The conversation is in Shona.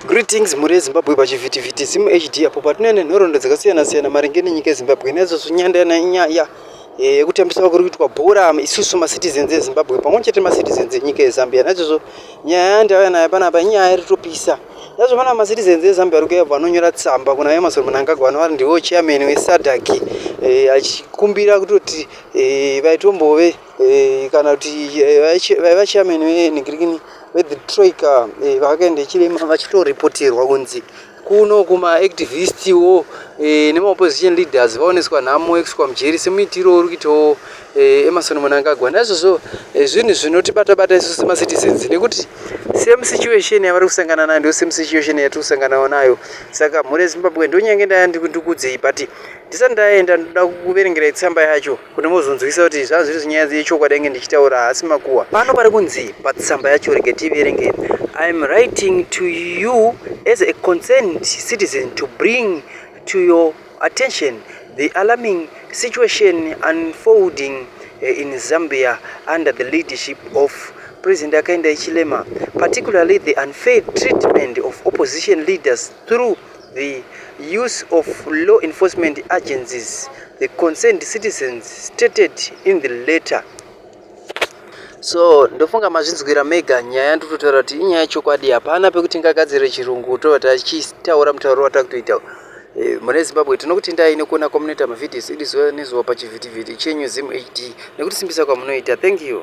Greetings mhuri yeZimbabwe pachivhitivhiti Zim HD apo patinoya nenhoroondo dzakasiyana siyana maringe nenyika yeZimbabwe naizvozvo nyanda yana inyaya eh, yekutambiswa kuri kuitwa bhora isusu macitizens eZimbabwe pamwe chete macitizens enyika yeZambia naizvozvo nyaya yandauya nayo panapa inyaya iri topisa naizvo pana macitizens eZambia ari kuya vanonyora tsamba kuna Emerson Mnangagwa anova ndiwo chairman weSADC eh, achikumbira kutoti eh, vaitombove eh, kana kuti eh, vaiva chairman venigirikini veThe Troika eh, vakaenda chirema vachitorepoterwa kunzi kuno kumaactivistiwo eh, nemaopposition leaders vaoneswa nhamo yekuswa mujeri semuitiro uri kuitawo eh, emarson munangagwa naizvozvo eh, zvinhu zvinotibata-bata isu semacitizens nekuti same situation yavari kusangana nayo ndo same situation yatiri kusanganao nayo saka mhuri yezimbabwe ndonyange ndaya ndikudzei but ndisati ndaenda ndoda kuverengerai tsamba yacho kuti muzonzwisa kuti zvaa zviri zvinyaya dzechokwadi yange ndichitaura haasi makuwa pano pari kunzi patsamba yacho rege tiverenge iam writing to you as a concerned citizen to bring to your attention the alarming situation unfolding eh, in zambia under the leadership of president akaenda ichilema particularly the unfair treatment of opposition leaders through the use of law enforcement agencies, the concerned citizens stated in the letter. So ndofunga mazvinzwira mega nyaya ndototaura kuti inyaya yechokwadi hapana pekuti ngagadzire chirungu tovati achitaura mutauro watakutoita Eh, mune zimbabwe tinokuti ndai nekuona kwamunoita mavidios idi zuva nezuva pachivhitivhiti chenyu zim hd nekutisimbisa kwamunoita thank you